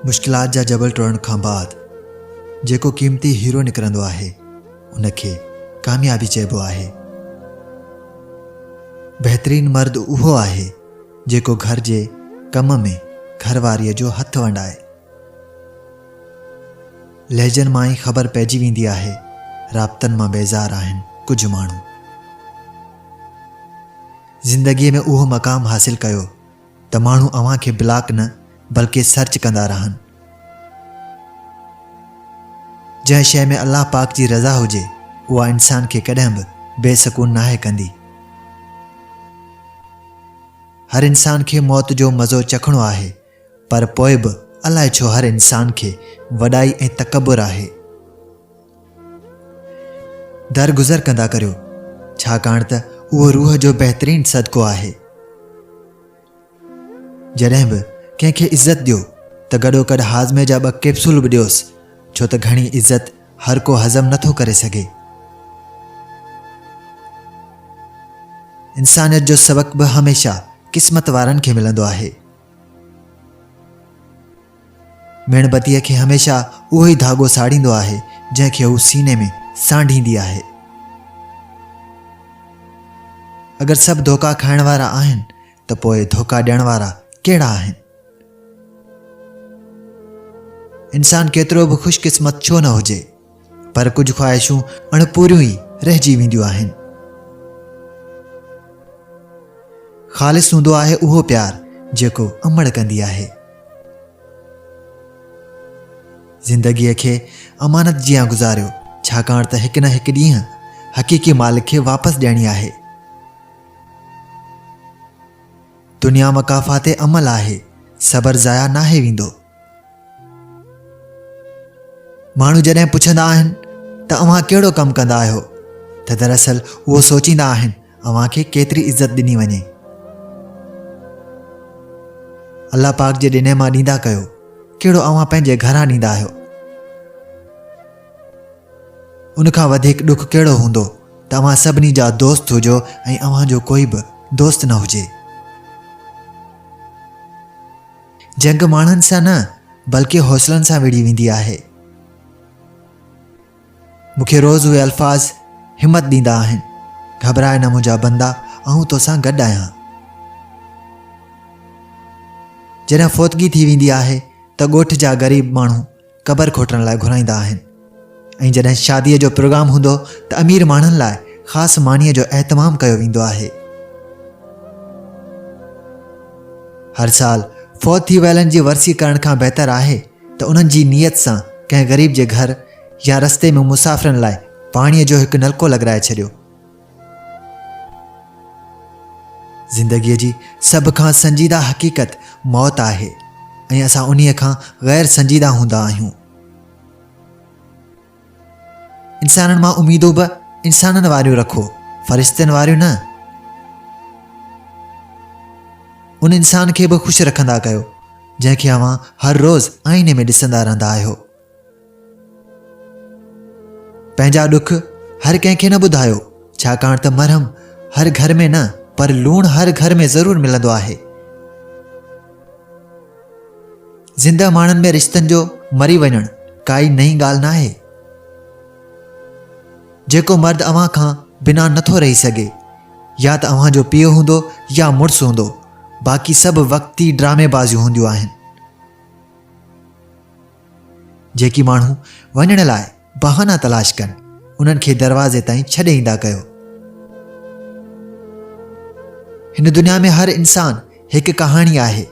مشڪلات جا جبل ٽوڙڻ کان بعد جيڪو قيمتي هيرو نڪرندو آهي ان کي ڪاميابي چئبو آهي بهترين مرد اهو آهي جيڪو گهر جي ڪم ۾ گهر واريء جو هٿ ونڊائي لهجن مان ئي خبر پئجي ويندي آهي رابطن مان بيزار آهن ڪجهه ماڻهو زندگيء ۾ اهو مقام حاصل ڪيو ته ماڻهو اوهان کي بلاڪ نه بلڪه سرچ ڪندا رهن. جنهن شيء ۾ الله پاڪ جي رضا هجي اها انسان کي ڪڏهن به بي سڪون ناهي ڪندي. هر انسان کي موت جو مزو چکڻو آهي پر پوء به الائي ڇو هر انسان کي وڏائي ۽ تڪبر آهي. درگذر ڪندا ڪريو، ڇاڪاڻ ته اهو روح جو بهترين صدقو آهي. جڏهن به ڪنهن کي عزت ڏيو ته گڏوگڏ هاضمي جا ٻه ڪيپسول به ڏيوس، ڇو ته گهڻي عزت هر ڪو هضم نه ٿو ڪري سگهي. انسانيت جو سبق به هميشه قسمت وارن کي ملندو آهي. ميڻ بتيء کي هميشه اهو ئي ڌاڳو ساڙيندو آهي، جنهن کي هو سيني ۾ سانڍيندي آهي. اگر سڀ ڌوڪا کائڻ وارا آهن ته پوء ڌوڪا ڏيڻ وارا ڪهڙا آهن؟ انسان ڪيترو به خوش قسمت ڇو نه هجي، پر ڪجهه خواهشون اڻ پوريون ئي رهجي وينديون آهن. خالص هوندو آهي اهو پيار جيڪو امڙ ڪندي آهي. زندگيء کي امانت جيان گذاريو ڇاڪاڻ ته هڪ نه هڪ ڏينهن حقيقي مالڪ کي واپس ڏيڻي آهي. دنيا مقافات عمل آهي، صبر ضايع ناهي ويندو. ماڻهو جڏهن پڇندا آهن ته اوهان ڪهڙو ڪم ڪندا آهيو ته دراصل اهو سوچيندا آهن اوهان کي ڪيتري عزت ڏني وڃي الله پاڪ جي ڏني مان ڏيندا ڪيو ڪهڙو اوهان پنهنجي گهران ڏيندا آهيو ان کان وڌيڪ ڏک ڪهڙو هوندو ته اوهان سڀني جا دوست هجو ۽ اوهان جو ڪوئي به دوست نه هجي جنگ ماڻهن سان نه بلڪه حوصلن سان وڙهي ويندي آهي. مون کي روز اهي الفاظ همت ڏيندا آهن، گهٻرائي نه منهنجا بندا، آئون توسان گڏ آهيان. جڏهن فوتگي ٿي ويندي آهي ته ڳوٺ جا غريب ماڻهو قبر کوٽڻ لاء گهرائيندا آهن ۽ جڏهن شاديء جو پروگرام هوندو ته امير ماڻهن لاء خاص مانيء جو اهتمام ڪيو ويندو آهي هر سال فوت ٿي ويلن جي ورسي ڪرڻ کان بهتر آهي ته انهن جي نيت سان ڪنهن غريب جي گهر يا رستي ۾ مسافرن لاء پاڻيء جو هڪ نلڪو لڳرائي ڇڏيو زندگيء جي سڀ کان سنجيده حقيقت موت آهي ۽ اسان انهيء کان غير سنجيده هوندا آهيون. انسانن مان اميدون به انسانن واريون رکو، فرشتن واريون نه. ان انسان کي به خوش رکندا ڪيو جنهن کي اوهان هر روز آئيني ۾ ڏسندا رهندا آهيو. پنهنجا ڏک هر ڪنهن کي نه ٻڌايو ڇاڪاڻ ته مرهم هر گهر ۾ نه پر لوڻ هر گهر ۾ ضرور ملندو آهي زندهه ماڻهن ۾ رشتن جو مري وڃڻ ڪائي نئين ڳالهه ناهي جيڪو مرد اوهان کان بنا نٿو رهي سگهي يا ته اوهان جو پيء هوندو يا مڙس هوندو باقي سڀ وقتي ڊرامي بازيون هونديون آهن جيڪي ماڻهو وڃڻ لاء بهانا تلاش ڪن، انهن کي دروازي تائين ڇڏي ايندا ڪيو. هن دنيا ۾ هر انسان هڪ ڪهاڻي آهي،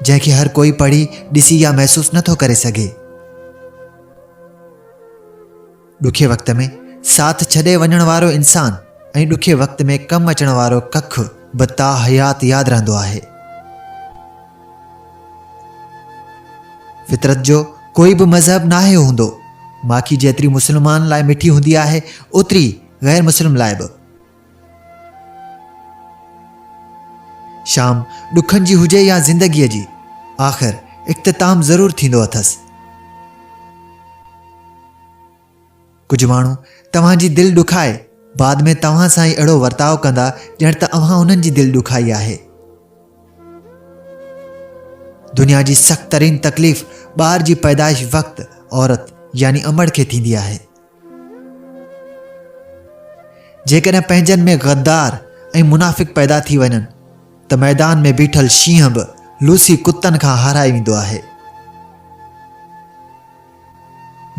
جنهن کي هر ڪوئي پڙهي، ڏسي يا محسوس نٿو ڪري سگهي. ڏکي وقت ۾ ساٿ ڇڏي وڃڻ وارو انسان ۽ ڏکي وقت ۾ ڪم اچڻ وارو ڪک به تا حيات ياد رهندو آهي. فطرت جو ڪوئي به مذهب ناهي هوندو، ماکي جيتري مسلمان لاء مٺي هوندي آهي، اوتري غير مسلم لاء به. شام ڏکن جي هجي يا زندگيء جي، آخر اختتام ضرور ٿيندو اٿس. ڪجهه ماڻهو توهان جي دل ڏکائي بعد ۾ توهان سان ئي اهڙو ورتاء ڪندا ڄڻ ته اوهان انهن جي دل ڏکائي آهي. دنيا جي سخت ترين تڪليف ٻار جي پيدائش وقت عورت يعني امڙ کي ٿيندي آهي. جيڪڏهن پنهنجن ۾ غدار ۽ منافق پيدا ٿي وڃن ته ميدان ۾ بيٺل شينهن به لوسي ڪتن کان هارائي ويندو آهي.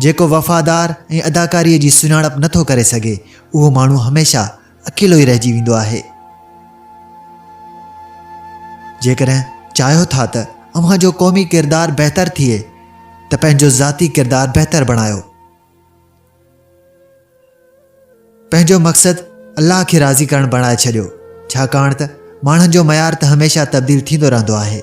جيڪو وفادار ۽ اداڪاريء جي سڃاڻپ نه ٿو ڪري سگهي، اهو ماڻهو هميشه اڪيلو ئي رهجي ويندو آهي. جيڪڏهن چاهيو ٿا ته اوهان جو قومي ڪردار بهتر ٿئي ته پنهنجو ذاتي ڪردار بهتر بڻايو. پنهنجو مقصد الله کي راضي ڪرڻ بڻائي ڇڏيو، ڇاڪاڻ ته ماڻهن جو معيار ته هميشه تبديل ٿيندو رهندو آهي.